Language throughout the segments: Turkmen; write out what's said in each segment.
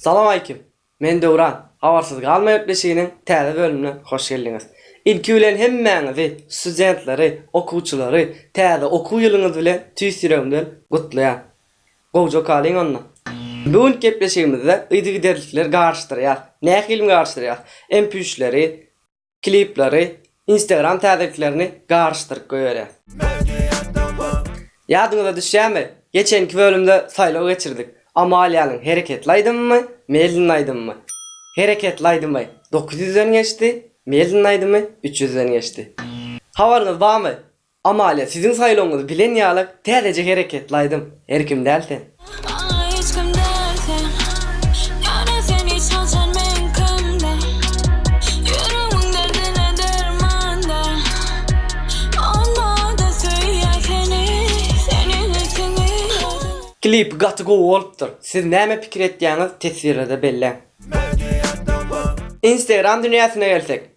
Salam aleýkim! Men Döwran. Habarsyz galmaýlyk deşiginiň täze bölümine hoş geldiňiz. Ilki bilen hemmäňizi, studentleri, okuwçylary täze okuw ýylyňyz bilen tüýs ýüregimden gutlaýan. Gowja kalyň onda. Bu günki gepleşigimizde yzygiderlikleri garyşdyrýas. Nähilmi garyşdyrýas? Empüýçleri, Klipleri, Instagram täzeliklerini garyşdyryp goýberýär. Ýadyňyza düşýärmi, geçenki bölümde saýlaw geçirdik. Amaliýanyň Hereketli aýdymymy, Meldiniň aýdymymy. Hereketli aýdymy dokuz ýüzden geçdi, Meldiniň aýdymy üç ýüzden geçdi. Habaryňyz barmy? Amalia siziň saýlawyňyzy bilen ýaly täzeje hereketli aýdym, Her kim däl sen. Maňa hiç kim däl sen, ýöne sen hiç haçan meňkim däl, Ýüregiň derdine derman däl, onda-da söýýä seni, seni we seni özümi. Klip gaty gowy bolupdyr. Siz näme pikir etýäňiz teswirlerde belläň. Instagram dünýäsine gelsek,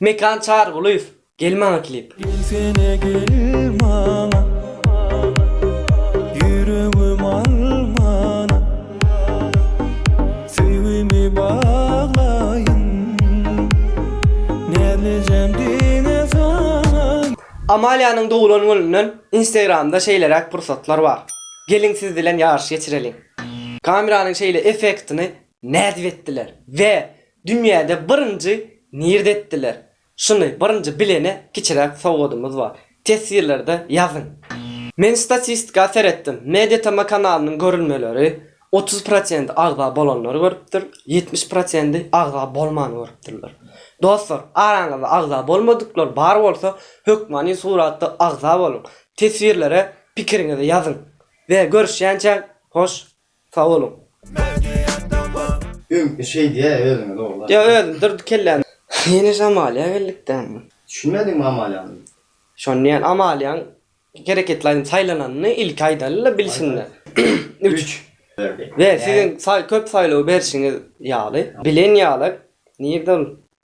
Mekan Çarygulyýew, Gel maňa klip. Gelsene gel maňa Ýüregim almana Söýgimi baglaýyn Näzlijem diňe saňa. Amaliýanyň doglan gününden Instagramda şeýleräk pursatlar bar. Geliň siz bilen ýaryş geçireliň. Kameranyň şeýle effektini Nädip etdiler we dünýäde birinji nirde etdiler? Şuny birinji bilene kiçiräk sowgadymyz bar. Teswirlerde ýazyň. Men statistika seretdim. Mediatema kanalynyň görülmeleri otuz prosenti agza bolanlar görüpdir, ýetmiş prosenti agza bolmany görüpdirler. Dostlar, araňyzda agza bolmadyklar bar bolsa, hökmany suratda agza boluň. Teswirlere pikiriňizi ýazyň. We görüşýänçäk, hoş Sag boluň. Öň şeýdýä özüňe dogry. Ýok özüm durdy kelläm. Ýene şu Amaliýa geldik dämi. Düşünmediňmi Amaliýany? Şony diýýän Amaliýaň hereketli aýdym saýlananyny ilki aýdalyla bilsinler. Üç. Berdi. Ber siziň köp saýlaw berşiňiz ýaly. Bilen ýaly nirde ol.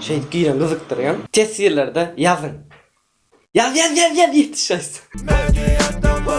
Şeýdip giren gyzykdyrýan teswirlerde ýazyň. Ýaz ýaz ýaz ýaz ýetiş aýt. Mäge ýadama.